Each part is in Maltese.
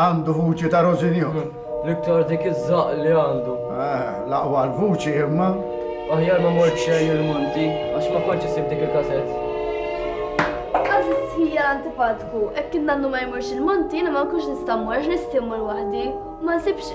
Għandu vuċi ta' Rosinjor. L-iktar dik iż-żaqq li għandu. Eh, l-aqwa l-vuċi imma. Aħjar ma mort xejn il-monti, għax ma kontx isib dik il-kasett. Għażiż hija antipatku, hekk kien nannu ma jmurx il-monti, jiena ma nkunx nista' mmur għax nistimmur waħdi. Ma nsibx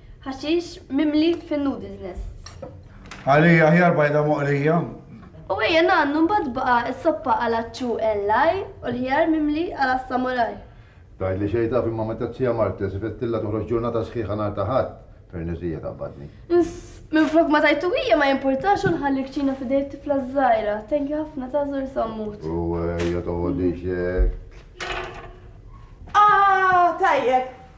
Ħaxix mimli fin-noodles nests. Għalija aħjar bajda moqlija. U ejja ngħannu mbagħad baqa' s-soppa għal aċċu en l-għajr u l-ħjar mimli għal assamuraj. Tgħidli xejn taf imma meta t-Tija Marta żifettilha toħroġ ġurnata sħiħa nhar ta' Ħadd, perniżija taqbadni. Ins, minflok ma tajtu hija ma jimpurtax u nħalli kċina f'idej t-tifla ż-żgħira. Thank you ħafna ta' żur sammut. U ejja toqgħodix hekk. Ah, tajjeb!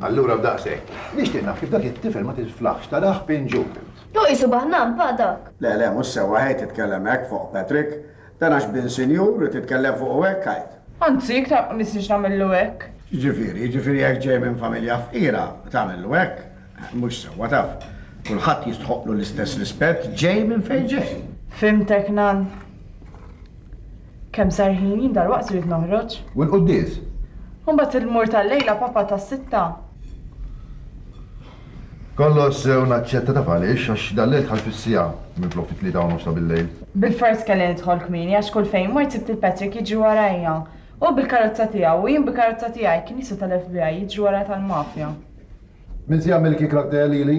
Allura b'daqshekk. Nixtieq naf kif dak it-tifel ma tiflaħx tarah pinġut int. Hu qisu baħnan pa' dak. Le, le, mhux sewwa ħejt titkellem hekk fuq Patrick. Dan għax bin sinjur u titkellem fuqu hekk ħajt. Anzi, iktar ma nistiex nagħmillu hekk. X'ġifieri? Jiġifieri jekk ġej minn familja fqira tagħmillu hekk? Mhux sewwa taf. Kulħadd jistħoqqlu l-istess rispett ġej minn fejn ġej. Fhimtek, Nan. Kemm sar ħin, jien dalwaqt irrid noħroġ. U l-quddies? U mbagħad il-mur tal-lejla, Papa, tas-sitta. Kollox sew naċċetta, taf għaliex? Għax dal-lejl dħalt fis-siegħa, minflok fit-tlieta u nofs ta' bil-lejl. Bilfors kelli nidħol kmieni għax kull fejn mort sibt lil Patrick jiġri warajja. Hu bil-karozza tiegħu u jien bil-karozza tiegħi, kien jiswa tal-FBI, jiġri warajja tal-mafja. Min se jagħmel il-kikra ktejja lili?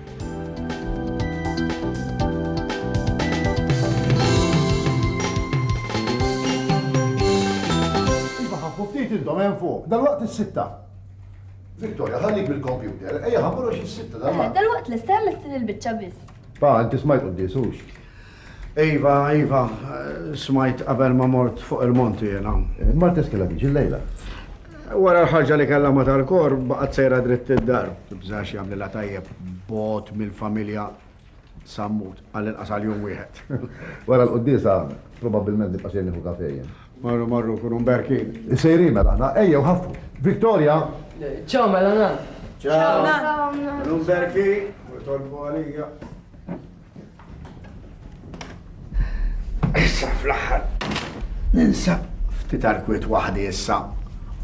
Iva ħaffu ftit intom hemm fuq, dalwaqt is-sitta. Victoria, ħallik bil-kompjuter, ejja ħammur għax is-sitta dalwaqt. Dalwaqt lesta hemm il-biċċa biss. Pa, inti smajt quddisux. Iva, iva, smajt qabel ma mort fuq il-monti jena. Mar teskela diġ il-lejla. Wara l-ħarġa li kellha ma tal-kor, baqgħet sejra dritt id-dar. Tibżax jagħmli la tajjeb bot mill-familja sammut għal inqas għal jum wieħed. Wara l-quddisa, probabbilment nibqa' xejn nieħu kafe jien. Marru marru kunu mberkin. Sejrin mela aħna, ejjew ħaffu. Victoria! Ciao mela nan. Ciao. Ciao nan. Kunu mberkin, u tolbu għalija. Issa fl-aħħar ninsab ftit arkwit waħdi issa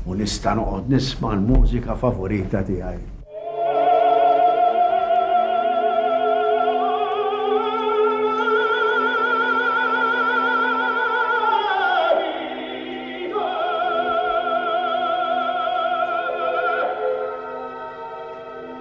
u nista' noqgħod nisma' l-mużika favorita tiegħi.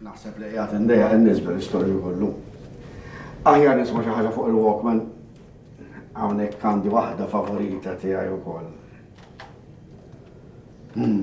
Naħseb li qiegħed indejjaq in-nies bil-istorju kollu. Aħjar nisma' xi ħaġa fuq il-Walkman. Hawnhekk għandi waħda favorita tiegħi wkoll. Hmm.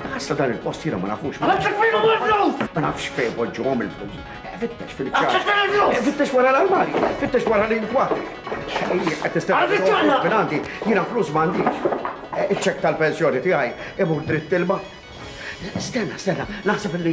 Għassa dan il-post jira ma nafux. Ma nafx fejn huma l-flus! Ma nafx fejn poġġuhom il-flus. Fittex fil-ċar. Għassa fejn il-flus! Fittex wara l-armari, fittex wara l-inkwa. Xejjek qed tistenna minn għandi, jiena flus m'għandix. Eh, iċ-ċek tal-pensjoni tiegħi imur dritt ilma. Stenna, stenna, naħseb li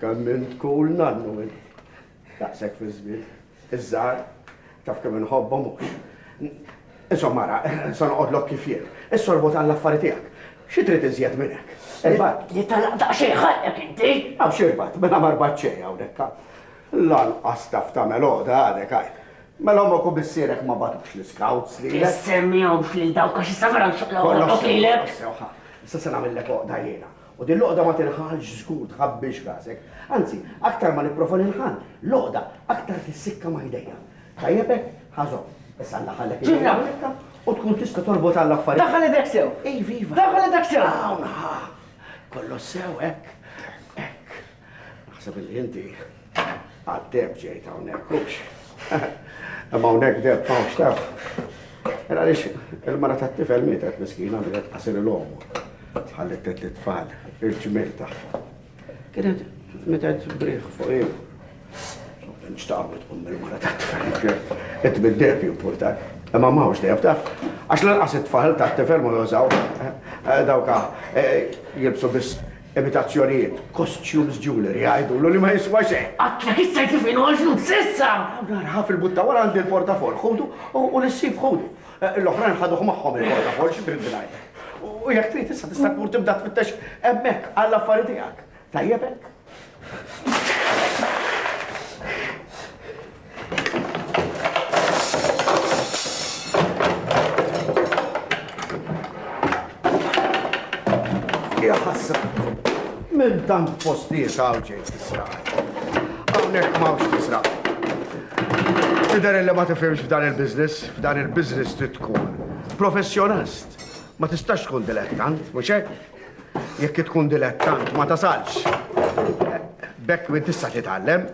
Kemm int cool nannu int. Daqshekk fiż-żmien. Iż-żgħar, taf kemm inħobbhom hux. Insomma ara, se noqgħodlok kif jien. Issorbot għall-affari tiegħek. Xi trid iżjed minn hekk? Irbat. Jitalaq daqsxejn ħalqek inti. Hawn x'irbat, mela ma rbat xejn hawnhekk ha. Lanqas taf tagħmel għoda għadek għajr. Mela ommok u missierek ma bagħtux l-iskawts lilek. Issemmihomx lil dawk għax issa vera nxoqlok lilek. Kollox sew, kollox sew ha. Issa se nagħmillek għoqda jiena. U din l-għoqda ma tinħalx żgur tħabbix rasek. Anzi, aktar ma nipprova nilħan, l-għoqda aktar tissikka ma' jdejja. Tajjeb hekk? Ħa żomm. Issa alla ħallek idejja hawnhekk u tkun tista' torbot għal affarijiet. Daħħal idek sew! Iva, iva. Daħħal idek sew! Hawn, ħa. Kollox sew, hekk. Hekk. Naħseb li inti għad-deb ġejt hawnhekk hux. Imma hawnhekk deb hawnx taf. Era lix il-mara tat-tifel mietet miskina li qed qasir il-omu. Ħallit tet li tfal il-ġmil tagħha. Kienet mietet briħ fuq il. Nċtaqwet um il-mara tat-tifel. Qed bid-deb jimportak. Imma ma hux deb taf. Għax l-inqas it-tfal tat-tifel ma jużaw. Eh, eh, dawka eh, jilbsu biss Imitazzjonijiet, costumes jewellery, għidulu li ma jiswa xejn. Qatt ma kissert li f'għinu għall-flus s'issa! Nar ħa fil-butta wara għandi l-portafoll, ħudu u l-issib ħudu. Eh, l-oħrajn ħaduh magħhom il-portafoll xi trid ngħid. U jekk trid issa tista' tmur tibda tfittex hemmhekk għall-affari tiegħek. Tajjeb hekk? Minn tant postijiet għaw ġej tisra. Għawnek mawx tisra. Tidher li ma tifhimx f'dan il-biznis, f'dan il-biznis trid tkun professjonist. Ma tistax tkun dilettant, mhux hekk? Jekk tkun dilettant ma tasalx. Bekk min tista' titgħallem.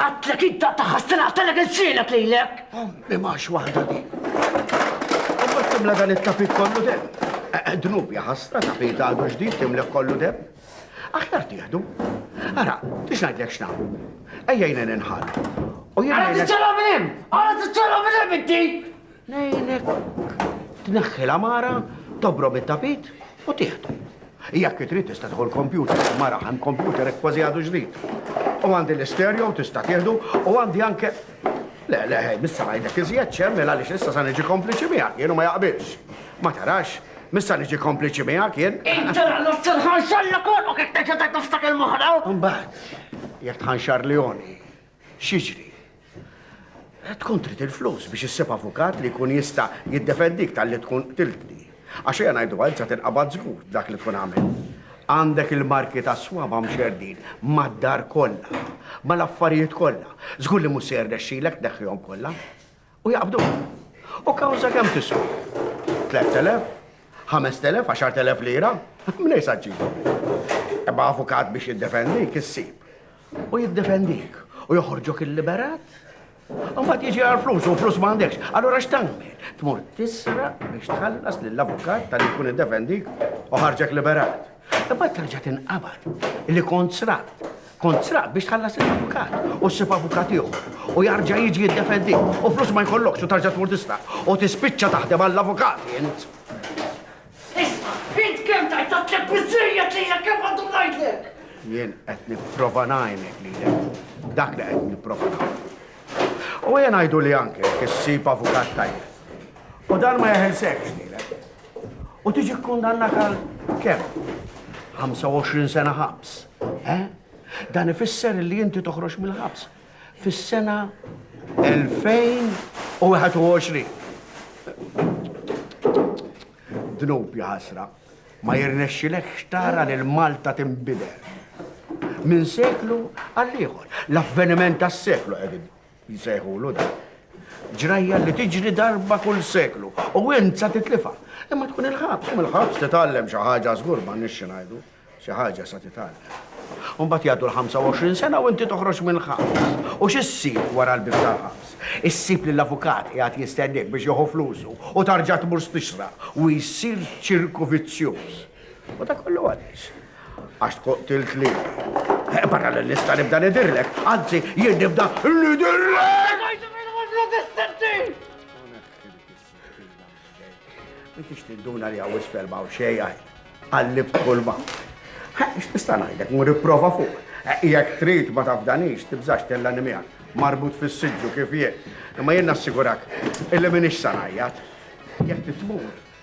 Għatlek id ta' ħassin għattalek il-silek lilek. Ommi max waħda di. Ommi timla dan it-tapit kollu dem. Eh, eh, dnub jaħasra tapit għadu ġdid timlek kollu dem. Aħjar tieħdu. Ara, tix ngħidlek x'nagħmlu. Ejja jnen inħall. U jien. Ara tiċċara minn hemm! Ara tiċċara minn hemm inti! Ngħinek tneħħi l-għamara, tobrob it-tapit u tieħdu. Jekk trid tista' tħol kompjuter, mara ħan kompjuter hekk kważi għadu ġdid. U għandi l-istereo tista' tieħdu u għandi anke Le, le, hej, missa ngħidlek iżjed ċem, mela għaliex issa sa niġi kompliċi miegħek, jien ma jaqbilx. Ma tarax, missa niġi kompliċi miegħek jien. Inti għallu s-silħan xalla kollu kif teġa ta' nofstak il-moħra. Mbagħad, jekk tħanxar Leoni, X'jiġri? Tkun trid il-flus biex issib avukat li jkun jista' jiddefendik tal-li tkun qtiltni. Għax hija ngħidu għal sa tinqabad żgur dak li tkun għamel. Għandek il-marki ta' swaba mxerdin mad-dar kollha, mal-affarijiet kollha. Żgur li mhux se jirnexxilek tneħħihom kollha. U jaqbdu. U kawża kemm tiswa? 3000? 5000? 10000 lira? Mnej sa ġibu. Ebba avukat biex jiddefendi, kissib. U jiddefendik. U joħorġok il-liberat? Umbat jiġi għal flus, u flus ma għandekx. Allora x'tagħmel? Tmur tisra biex tħallas lill-avukat tal-li jkun id-defendik u ħarġek liberat. Imbagħad terġa' tinqabad li kont sraq. Kont sraq biex tħallas il-avukat u ssib avukat ieħor u jarġa' jiġi jiddefendi u flus ma jkollokx u tarġa' tmur tista' u tispiċċa taħdem għall-avukat int. Isma', int kemm tajt tatlek biżejjed li jekk kemm għandu ngħidlek. Jien qed nipprova ngħinek li dak li qed nipprova U jien ngħidu li anke issib avukat tajjeb. U dan ma jeħelsek lilek. U tiġi kkundannat għal kemm? 25 sena ħabs. Eh? Dan ifisser li inti toħroġ mill-ħabs fis-sena 2021. Dnub ħasra, ma jirnexxilek xtara lil Malta tinbidel. Minn seklu għal ieħor, l-avveniment tas-seklu qegħdin jsejħulu dan. Ġrajja li tiġri darba kull seklu u int sa titlifha. Imma tkun il-ħabs, u mill-ħabs titgħallem xi ħaġa żgur ma nixxi ngħidu, xi ħaġa sa titgħallem. Mbagħad jgħaddu l-25 sena u inti toħroġ mill-ħabs. U x'issib wara l-bib tal-ħabs? Issib li l-avukat qiegħed jistennik biex jieħu flusu u tarġa' tmur stixra u jsir ċirku vizzjuż. U ta' kollu għaliex? Għax tkun tilt li. Eh, barra li nista nibda nidirlek, anzi jien nibda nidirlek! Biex tinduna li għawis ferma u xejja, għallib kulma. X'tista' ngħidek, mu riprova fuq. Eh, jekk trid ma tafdanix, tibżax tella nimija, marbut fis-sidġu kif jien. Imma jien nassigurak, illi minix sanajjat. Jekk titmur,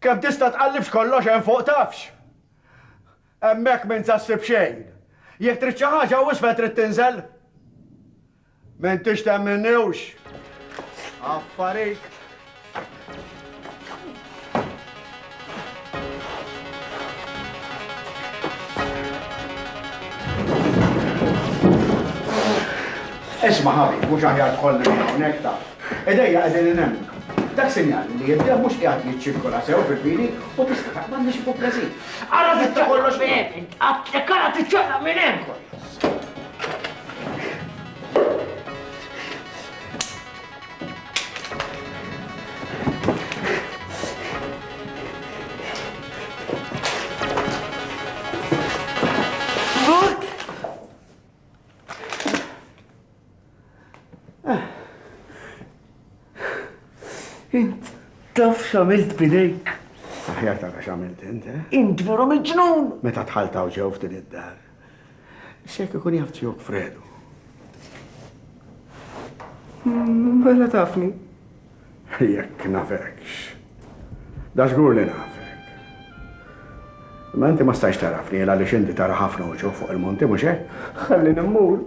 Kemm tista' tqallibx kollox hemm fuq tafx? Hemmhekk m'int sa ssib xejn. Jekk trid xi ħaġa hawn isfel trid tinżel? M'intix temminniwx. Affarijt. Isma' ħabib, mhux aħjar tkollna minn hawnhekk taf. Idejja qegħdin in hemm. Dak sinjal li id-demm mhux qiegħed jiċċirkola sew fil-pili u tista' taqbad biex ikun preżi. Ara dik ta' kollox minn hemm, intqatt jekk ara tiċċaqlaq minn hemm kollox. Int taf xamilt bidejk. Aħjar tara xamilt int, eh? Int veru miġnun! Meta tħaltaw ġew f'din id-dar. Xek ikun jaf ġewk fredu. Mela tafni. Jekk nafekx. Da żgur li nafek. Ma inti ma stajx tarafni għal li xinti tara ħafna uċu fuq il-monti mhux hekk? Ħalli nimmur.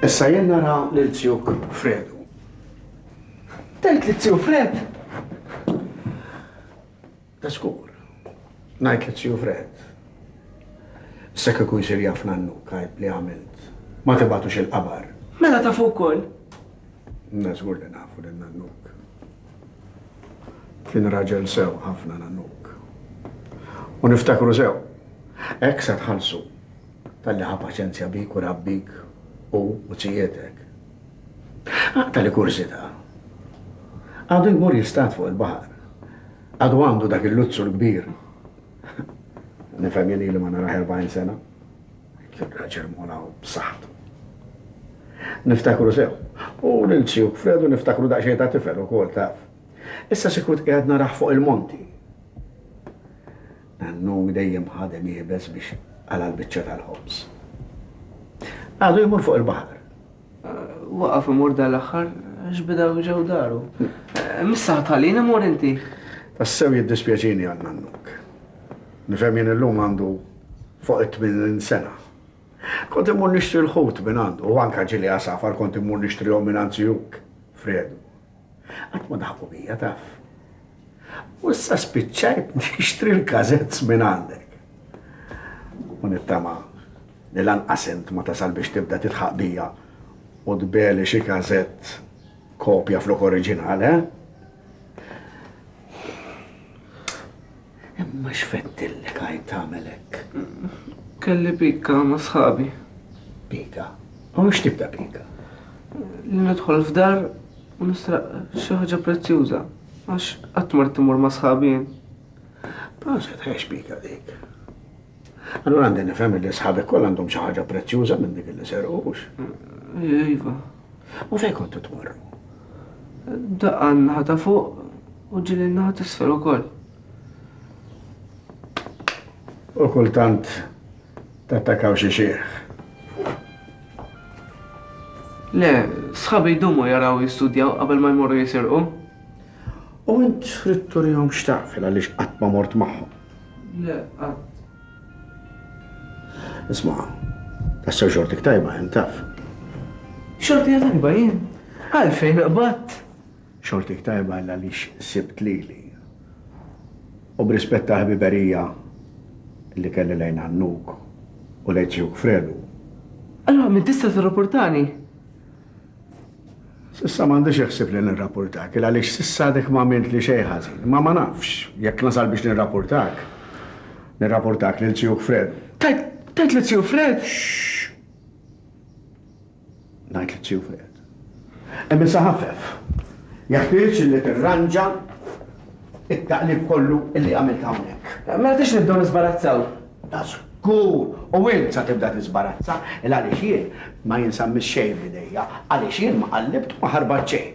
Issa jien nara lil zjuk Fredu. Tgħid li zju Fred? Ta' skur. Ngħid li t-Siju Fred, issa kieku jsir jaf Nannu Kajb li għamilt, ma tibgħatux il-qabar. Mela tafu wkoll? Na żgur li nafu lil Nannuk. Kien raġel sew ħafna Nannuk. U niftakru sew. Hekk se tħallsu talli ħa paċenzja bik u rabbik u u tzijietek. Aqtali kurżità. Għadu jmur jistad fuq il-baħar. Għadu għandu dak il-luzzur kbir. Nifhem jien ili ma narah 40 sena. Kien raġel mola u b'saħħtu. Niftakru sew. U lil Sjuk Fredu niftakru daqsxejn ta' tifel ukoll taf. Issa sikwit qiegħed narah fuq il-monti. Nannu dejjem ħadem iebes biex qala' l-biċċa tal-ħobż. Għadu jmur fuq il-baħar. Waqaf imur dal-aħħar għax bidaw ġew daru. Missa ħatalin imur inti. Tassew jiddispjaċini għal nannuk. Nifhem jien illum għandu fuq it-tminin sena. Kont imur nixtri l-ħut minn għandu, u anka ġili għasafar kont imur nixtrihom minn għand Fredu. Qatt ma daħqu bija, taf. U issa spiċċajt nixtri l-kazets minn għandek. U nittama li lanqas int ma tasal biex tibda titħaq bija u tbeli xi kazett kopja flok oriġinal, eh? Imma x'feddillek għajn tagħmel hekk? Kelli pika ma' sħabi. Pika? U x'tip ta' pika? Li nidħol f'dar u nisraq xi ħaġa prezzjuża għax qatt mort immur ma' sħabi jien. Proset, ħex pika dik. Allura għandi nifhem li sħabek kollha għandhom xi ħaġa prezzjuża minn dik li serqu, hux? Iva. U fejn kontu tmorru? Daqqa n-naħa ta' fuq u ġili n-naħa t-isfel ukoll. U kultant tattakaw xi xieħ. Le, sħabi jdumu jaraw jistudjaw qabel ma jmorru jisirqu. U int trid turihom x'taqfel għaliex qatt ma mort magħhom. Le, qatt. Isma', tassew xortik tajba hemm taf. Xorti tajba jien? Għalfejn qbatt? Xortik tajba illa li sibt lili. U b'rispett ta' ħbiberija li kelli lejn għannuk u lejn tiegħuk Fredu. Allura min tista' tirrapportani? Sissa m'għandix iħsib li nirrapportak, il għaliex sissa għadek ma għamilt li xejn ħażin. Imma ma nafx, jekk nasal biex nirrapportak, nirrapportak lil Tsijuh Fred. Tajt, tajt li Tsijuh Fred? Ngħid li Tsijuh Fred. Hemm issa ħafef. Jeħtieġ li tirranġa it-taqlib kollu illi għamilt hawnhekk. Ma rridx nibdew nisbarazzaw. Da żgur! U int sa tibda tiżbarazza, il-għaliex jien ma jinsammis xejn f'idejja, għaliex jien ma qallibt u ma ħarbat xejn.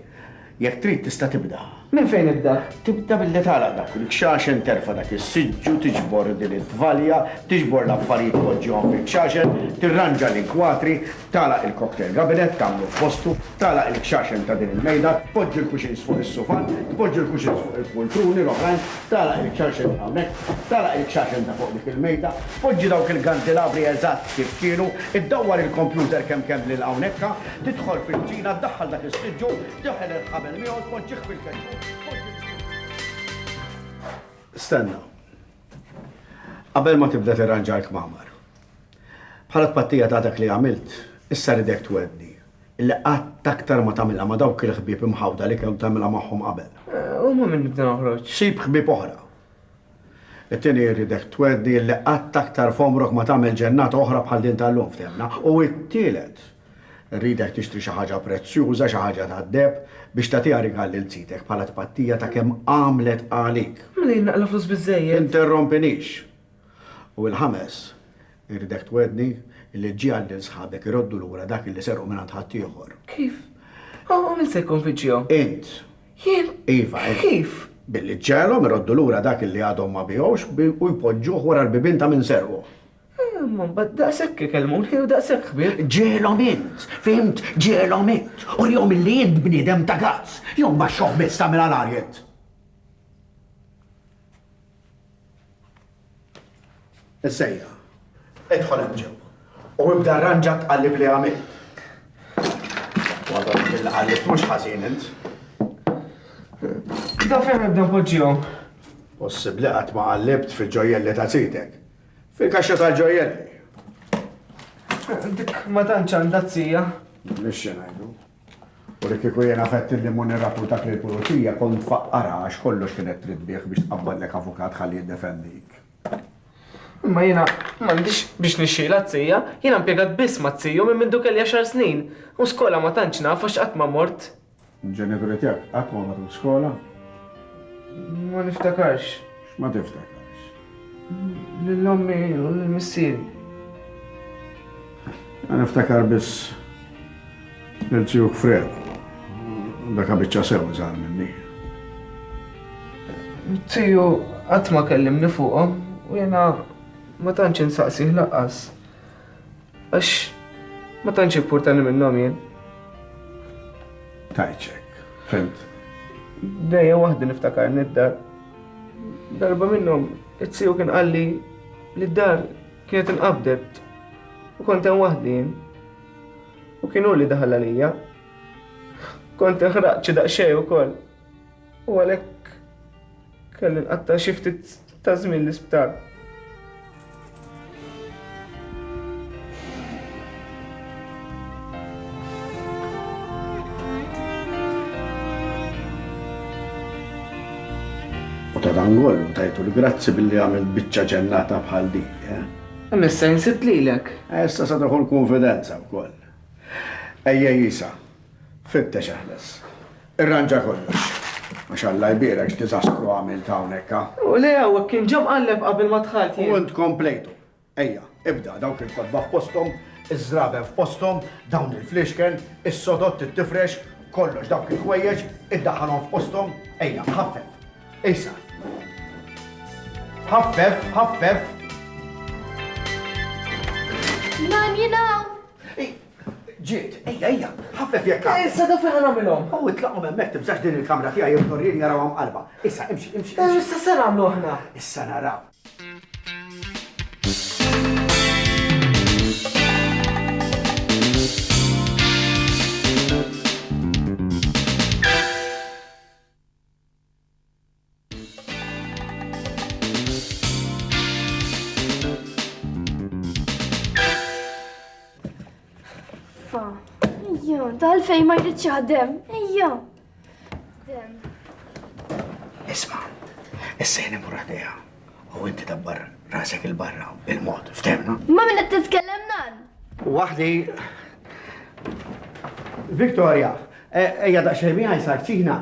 Jekk trid tista' tibda. Minn fejn nibda? Tibda billi tagħlaq dak il-kxaxen, terfa' dak is-siġġu, tiġbor din it-tvalja, tiġbor l-affarijiet tpoġġihom fil-kxaxen, tirranġa l-inkwatri, Tagħlaq il-cocktail cabinet, tagħmlu f'postu, tagħlaq il-kxaxen ta' din il-mejda, tpoġġi l-cushions fuq is-sufan, tpoġġi l-cushions fuq il-pultruni l-oħrajn, tagħlaq il-kxaxen hawnhekk, tagħlaq il-kxaxen ta' fuq dik il-mejda, poġġi dawk il-gandelabri eżatt kif kienu, iddawwar il-kompjuter kemm kemm lil hawnhekka, tidħol fil-kċina, ddaħħal dak is-siġġu, teħel il-ħabel miegħu, tpoġġih fil-ketxun, tpoġġi l-kxaxen. Stenna. Qabel ma tibda tirranġa l-kmamar, Bħala tpattija ta' dak li għamilt, issa ridek twegħdni illi qatt aktar ma tagħmilha ma' dawk il-ħbieb imħawda li kemm tagħmilha magħhom qabel. U ma' min nibda noħroġ? Sib ħbieb oħra. It-tieni rridek twegħdni illi qatt aktar f'għomrok ma tagħmel ġennata oħra bħal din tal-lum, fthemna? U t-tielet, rridek tixtri xi ħaġa prezzjuża, xi ħaġa tad-deheb, biex tagħtiha rigal lil zitek bħala tpattija ta' kemm għamlet għalik. Mela jien naqla' flus biżżejjed? Tinterrompinix. U l-ħames, irridek twegħdni li ġġiegħel lil sħabek iroddu lura dak li serqu mingħand ħaddieħor. Kif? U min se jikkonvinċihom? Int. Jien? Iva, int. Kif? Billi ġġegħelhom iroddu lura dak li għadhom ma biegħux u jpoġġuh wara l-bibien ta' min serqu. Imma mbagħad daqshekk ikellmuni u daqshekk ħbieb. Ġġiegħelhom int, fhimt? Ġġiegħelhom int. Urihom illi int bniedem ta' gazz, jew mbaxxuh biss tagħmilha l-agħar int. Is-sejħa. Idħol hemm ġewwa. U ibda rranġa t-tqallib li għamilt. Wadhom il-qallib mhux ħażin int. Da fejn nibda poġġihom? Possibbli qatt ma qallibt fil-ġojjelli ta' sidek. Fil-kaxxa tal-ġojjelli. Dik ma tantx għandha t-sija. Nixxi ngħidu. U li kieku jiena għedt il-limun irraputak lill-pulizija kont tfaqqarha għax kollox kienet trid bih biex tqabbadlek avukat ħalli jiddefendik. Imma jiena m'għandix biex nixxilha t-tija, jiena mpjegat biss ma' tiju minn mindu kelli għaxar snin, u skola ma tantx naf għax qatt ma mort. Il-ġenituri tiegħek qatt ma marru skola? Ma niftakarx. X'ma tiftakarx? Lil ommi u lil missieri. Jien niftakar biss lil tiegħuk Fred. Daka biċċa sew iżgħar minni. Tiju qatt ma kellimni fuqhom u jiena ma tantx insaqsih laqqas. Għax ma tantx jimpurtani minnhom jien. Tajċek, fimt. Dejja waħdi niftakar nid-dar. Darba minnhom it-siju kien qalli li d-dar kienet inqabdet u kont hemm waħdi jien. U kienu li daħal għalija. Kont inħraqċi daqsxejn ukoll. u għalhekk kelli nqatta' xi ftit ta' żmien l-isptar. U ta' dan kollu tajtu l-grazzi billi għamil biċċa ġennata bħal din. Eh? Missa jinsit lilek. Eh, issa sa daħu l-konfidenza wkoll. Ejja jisa, Fittex eħles. Irranġa kollox. Għax Alla jbierek x'diżastru għamilt hawnhekk, ha? U le hawnhekk kien ġa mqalleb qabel ma dħalt jien. U int komplejtu. Ejja, ibda, dawk il-kotba f'posthom, iż-żraben f'posthom, dawn il-fliexken, is-sodott, it-tifrex, kollox dawk il-ħwejjeġ, iddaħħalhom f'posthom, ejja, ħaffef. Issa. Ħaffef, ħaffef. Nan jinaw! Ġiet, ejja, ejja, ħaffef jekk għad. Issa da fejn nagħmilhom. U itlaqhom hemmhekk tibżax din il-kamra tiegħi hemm torrien jarawha mqallba. Issa, imxi, imxi. Eh, issa se nagħmlu aħna. Issa naraw. Ejja, tal fej ma jridx jaħdem. Ejja. Isma, issa jeni murħdeja. U inti dabbar rasek il-barra bil-mod, ftemna? Ma minna t-titkellem nan? Waħdi. Victoria, e, ejja daqxej miħaj sar ċina,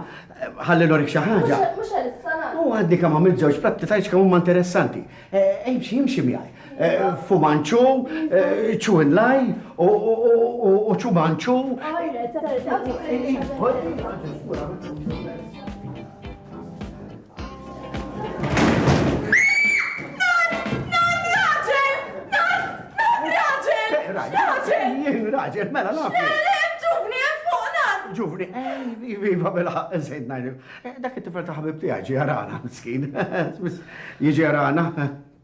ħalli l-orik xaħġa. Mux għal s-salat. U għaddi kam għamil zewġ platti tajċ kam umma interessanti. E, imxi, imxi miħaj. E, fumanċu, ċu laj, u ċu manċu. Għajna, Raġel, mela naf. Ġuvni, fuqna! Ġuvni, viva mela nsejt najdu. Dak it-tifel ta' ħabib tiegħi ġi għarana, miskin. Jiġi għarana.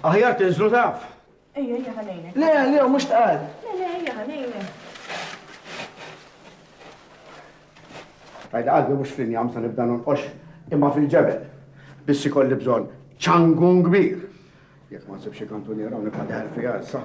Aħjar tinżlu taf. Ejja, ejja ħanejnek. Le, le, mhux tqal. Le, le, ejja ħanejnek. Għajda qalbi mhux fl-injam sa nibda nonqox imma fil-ġebel. Bissi kolli bżonn ċangun kbir. Jekk ma nsibx kantuniera u nibqa' deħel fiha issa.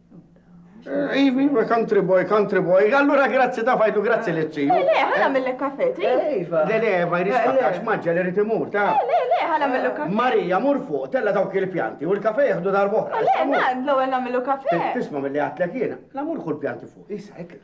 Ivi, iva, country boy, country boy. Allura grazzi ta' fajtu, grazzi li t-tiju. Le, ħana mill-le kafe, tri? Iva. Le, le, ma jridx kafe, għax maġġa li rriti mur, ta' Le, le, ħana mill-le kafe. Marija, mur fuq, tella dawk il-pjanti, u l-kafe jihdu darbohra. Le, man, l-ewel namillu kafe. Tisma mill-le għatlek jena, la mur kull pjanti fuq, jisa, ekla.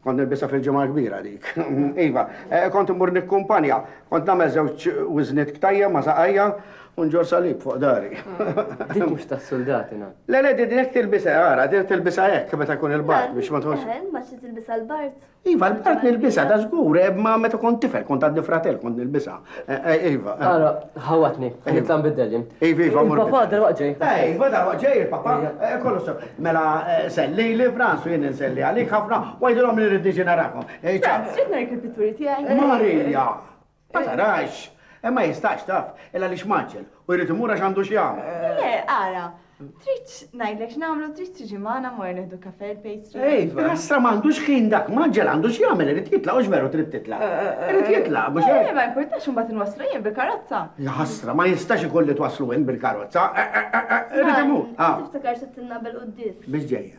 Kont nilbisha fil-Ġimgħa l-Kbira dik. Iva, kont immur nikkumpanja. Kont nagħmel żewġ wiżniet ktajja ma' saqajja u nġorr salib fuq dari. Dik mhux tas-suldati, na. Le, le, din hekk tilbisha, ara, din tilbisha hekk meta jkun il-bard biex ma tkunx. Eħe, imbagħad xi tilbisha l-bard? Iva, l-bard nilbisha, dażgur, ma meta kont tifel, kont għadni fratell, kont nilbisha. Iva. Ara, ħawatni, nitla nbiddel jien. Iva, iva, mur. Papa, dar waqġej. Iva, dar waqġej, papa. Kollu sew. Mela, selli li fransu jien nselli għalik ħafna, wajdilhom li rrid niġi narakom. Franz, xi tnejk il-pitturi tiegħi? Marija! Ma tarax! Imma jistax taf, illa li xmaġġel, u jrid imur għax għandu xi Le, ara, Trid ngħidlek x'nagħmlu, trid tiġi magħna mmorru nieħdu kafè l-pastry? Iva. Ħasra m'għandux ħin dak, m'għaġġel għandu x'jagħmel, irid jitlaq u x'veru trid titlaq. Irid jitlaq, mhux hekk? Le, ma jimpurtax imbagħad inwasslu jien bil-karozza. La ħasra, ma jistax ikun li twasslu int bil-karozza. Irid imur. Tiftakar settilna bil-quddies. Biex ġejja?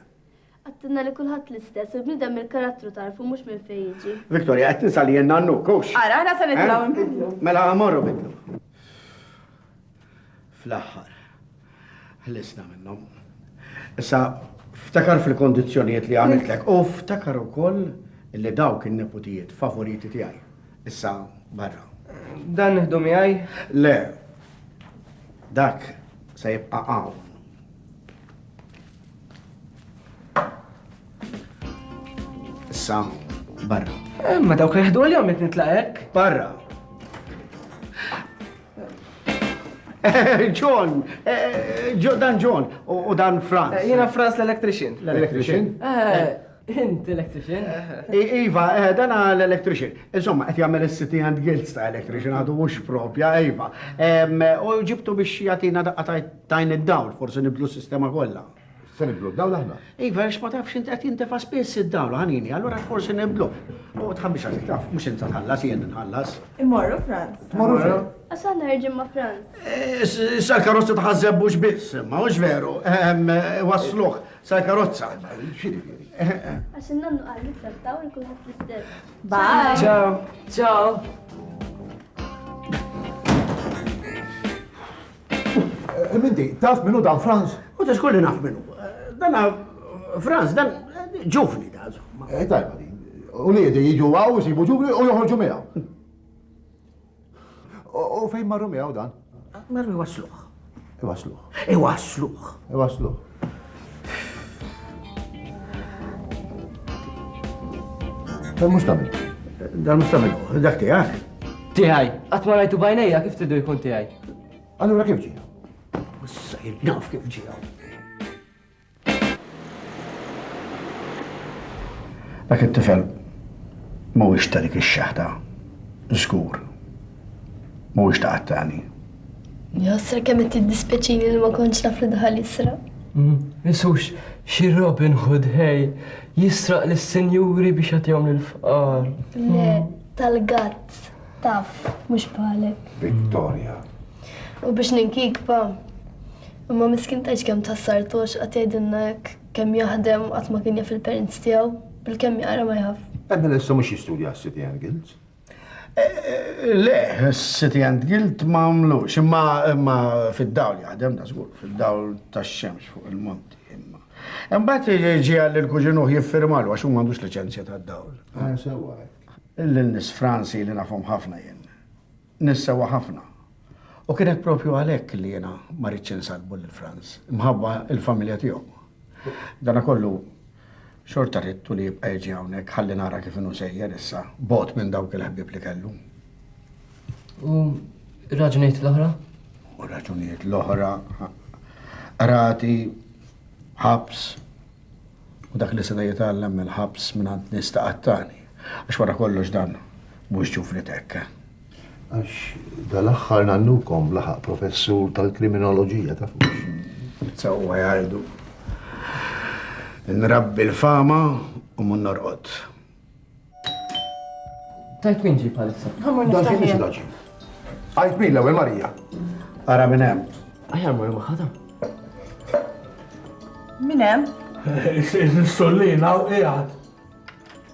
Qed tinna li kulħadd l-istess u l-bniedem mill-karattru tagħrfu mhux minn fejn jiġi. Victoria, qed tinsa li jien nannuk, hux? Ara, aħna se nitilgħu eh? nbidlu. Mela morru bidlu. Fl-aħħar, ħlisna minnhom. Issa, ftakar fil-kondizzjonijiet li għamiltlek u ftakar ukoll li dawk in-neputijiet favoriti tiegħi. Issa, barra. Dan nħdu miegħi? Le, dak se jibqa' hawn. Issa, barra. Eh, ma dawk jħdu għal-jom jek nitlaqek. Barra. John, eh, eh, dan John, u dan Franz. Jena Franz l-electrician. L-electrician? Int electrician? Iva, eh, dan l-electrician. Insomma, qed jagħmel is-city and guilds ta' electrician għadu mhux propja, Iva. U ġibtu biex jagħtina daqqa Tajn id-dawl, forsi nibdlu s-sistema kollha. Se nibdlu d-dawl aħna? Iva, għax ma tafx int qed jintefa' spiss id-dawl ħanini, allura forsi nibdlu. U tħabbix għasik taf, mhux int tħallas jien nħallas. Immorru Franz. Tmorru fejn? Għax aħna ħerġin ma' Franz. Eh, issa l-karozza tħażeb mhux biss, ma mhux veru. Ehm, eh, wasluh, sa l-karozza. Eh, għax innannu qal li trattaw li kulħadd l-istess. Bye. Ciao. Ciao. Minti, taf minnu dan Franz? U ta' xkolli naf minnu. Dan Franz, dan ġuvni da' zomma. Eh, tajba din. U li jedi jiġu għaw, jisibu ġuvni u joħorġu miegħu. U fejn marru miegħu dan? Marru wasluħ. Iwasluħ. Iwasluħ. Iwasluħ. Dan mhux tagħmel. Dan mhux tagħmel, dak tiegħek. Tiegħi, qatt ma rajtu bajnejja kif tidu jkun tiegħi. Allura kif ġie? Issa naf kif ġie. Dak it-tifel mhuwiex ta' dik ix-xaħda, żgur. Mhuwiex ta' qattani. Jħossra kemm qed tiddispjaċini li ma kontx naf li daħal jisraq. Mm, Isux, xi Robin Hood ħej, jisraq lis-sinjuri biex jagħtihom lill-fqar. Le, tal-gatt, taf, mhux bħalek. Victoria. U biex ninkikba, imma miskin tgħidx kemm tassar tox qatt jgħidilna hekk kemm jaħdem qatt ma kien jaf il-parents tiegħu, bil-kemm jaqra ma jaf. Emma lissa mhux jistudja s-City and Guilds. Le, City and Guild ma għamlux, imma imma fid-dawl jaħdem da żgur, fid-dawl tax-xemx fuq il-monti imma. Imbagħad ġie għal il-kuġinuh jiffirmalu għax hu m'għandux liċenzja tad-dawl. Ah, sewwa. Lil nis Franzi li nafhom ħafna jien. Nis sewwa ħafna. U kienet propju għalhekk li jiena ma ridx insallbu lil Franz, imħabba l-familja tiegħu. Dana kollu xorta ridtu li jibqa' jiġi hawnhekk ħalli nara kif inhu sejjer issa, bogħod minn dawk il-ħbieb li kellu. U raġunijiet l-oħra? U raġunijiet l-oħra, rati, ħabs, u dak li seta jitgħallem mill-ħabs minn għand nista qattani. Għax wara kollox dan mhux ġufri tekka. Għax dal-aħħar nannukom laħaq professur tal-kriminoloġija ta' fux. Sewwa jgħidu. Nrabbi l-fama u mun norqod. Tajt min ġi palissa. Dan xi mhix laġi. Għajt min l-ewwel Marija. Ara minn hemm. Aħjar mur maħħadha. Minn hemm? Is-sollina u qiegħed.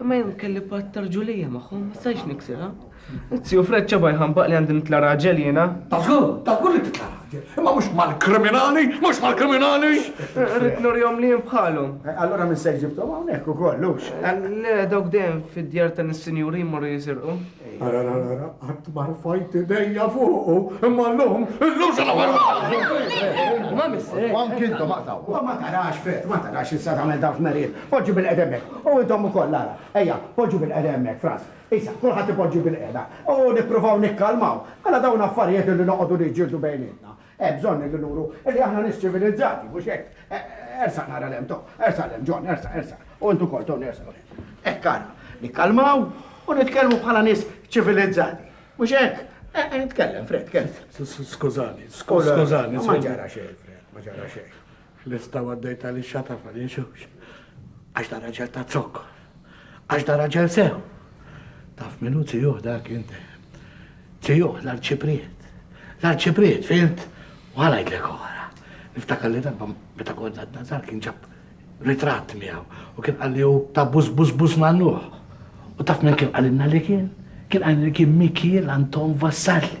Imma jien kelli patt ta' rġulija magħhom, ma stajtx niksirha. Zio Fred ċabha jħambaq li għandi nitla' raġel jiena. Ta' żgur, ta' żgur li titla' raġel, imma mhux mal-kriminali, mhux mal-kriminali! Rrid nurihom li jien bħalhom. Allura minn se ġibthom hawnhekk ukoll, hux? Le, dawk dejjem fid-djar ta' nis-sinjuri jmorru jisirqu. Ara, ara, ara, qatt ma rfajt idejja fuqu, imma llum, illum se nagħmel Ma missek. U anki intom aqtaw. U ma tarax fet, ma tarax issa tagħmel dan f'merijiet. Poġġi bil-qeda hemmhekk. U intom ukoll ara. Ejja, poġġu bil-qeda hemmhekk, Frans. Issa, kulħadd ipoġġi bil-qeda. U nippruvaw nikkalmaw. Mela dawn affarijiet li noqogħdu niġġieldu bejnietna. Hemm bżonn illi nuru illi aħna nies ċivilizzati, mhux hekk? Ersaq nara 'l hemm, to! Ersaq 'l hemm, John, ersaq, ersaq. U int ukoll, Tony, ersaq 'l hemm. Hekk ara, nikkalmaw u nitkellmu bħala nies ċivilizzati, mhux hekk? Eh, eh, tkellem, Fred, tkellem. Skużani, skużani, Tony. Ma ġara xejn, Fred, ma ġara xejn. Ħlifta u għaddejt għaliex xataf għaliex hux. Għax da raġel ta' zokkor. Għax da raġel sew. Taf min hu tijuh dak inti. Tijuh l-arċipriet. L-arċipriet, fimt? U għalajdlek oħra. Niftakar li darba meta konna d-nazar kien ġab ritratt miegħu u kien qalli hu ta' bus bus bus nannuħ. U taf minn kien qalilna li kien? Kien qalilna li kien Mikiel Anton Vassalli.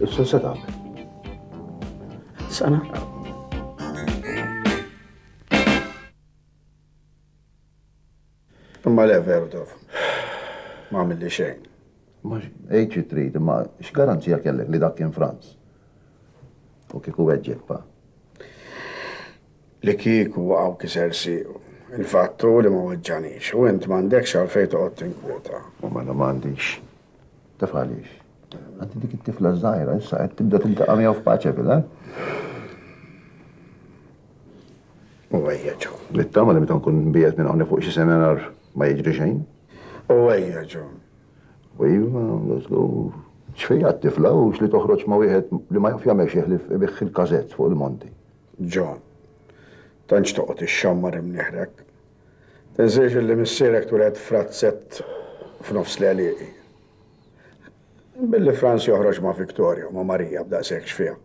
Issa se tagħmel. Sana. Imma le Verdov, ma għamilli xejn. Ma ejċi trid, ma x'garanzija kellek li dak kien Franz? U kieku weġġek pa. Li kieku hawn kiser siequ. Il-fatt hu li ma weġġagħnix u int m'għandekx għalfejn toqgħod tinkwieta. U mela m'għandix. Taf għaliex? Għad dik it-tifla ż-żgħira issa qed tibda tiltaqa' miegħu f'paċe villa. U ejja ġo. Nittama li meta nkun nbiegħed minn hawn fuq xi semenar ma jiġri xejn. U ejja ġo. U iva, żgur. X'fejha t-tifla u x'li toħroġ ma' wieħed li ma jaf jagħmel xi ħlief ibigħ il-każett fuq il-monti. John. Tantx toqgħod ixxammar imnieħ hekk. Tinsiex illi missierek tweled f'razzett f'nofs l-għelieqi. Billi Franz joħroġ ma' Victoria u ma' Marija b'daqshekk xfiegħ.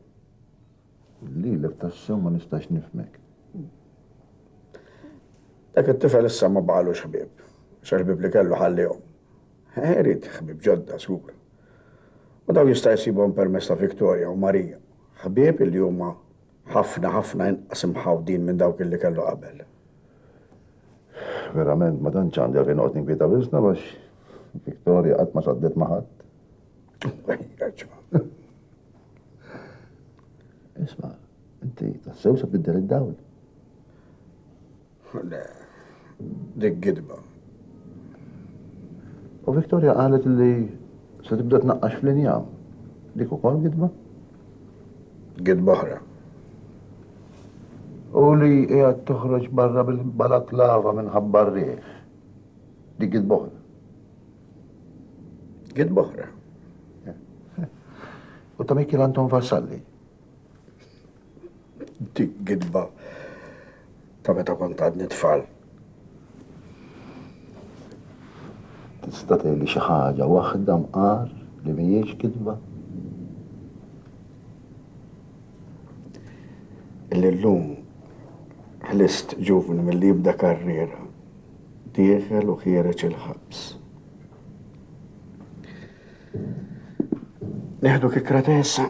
Lilek tassew ma nistax nifmek. Dak it-tifel issa ma baqalux ħbieb, x'ħbieb li kellu ħallihom. Eħe irid ħbieb ġodda żgur. U dawn jista' jsibhom permezz ta' Victoria u Maria, ħbieb illi huma ħafna ħafna inqas imħawdin minn dawk illi kellu qabel. Verament ma tantx għandi għalfejn noqgħod ninkwieta wisna għax Victoria qatt ma saddet ma' ħadd. Isma', inti tassew se tbiddel id-dawl. Le, dik gidba. U Victoria qalet li se tibda tnaqqax fl-injam. Dik ukoll gidba? Gidba oħra. U li qiegħed toħroġ barra bil-balaklava minħabba r-riħ. Dik gidba oħra. Gidba oħra. U ta' Mikil Anton Vassalli. Dik gidba ta' meta kont għadni tfal. Tista' tgħidli xi ħaġa waħda mqar li mhijiex gidba? Illi llum ħlist ġuvni milli jibda karriera dieħel u ħiereġ il-ħabs. Nieħdu kikra tesa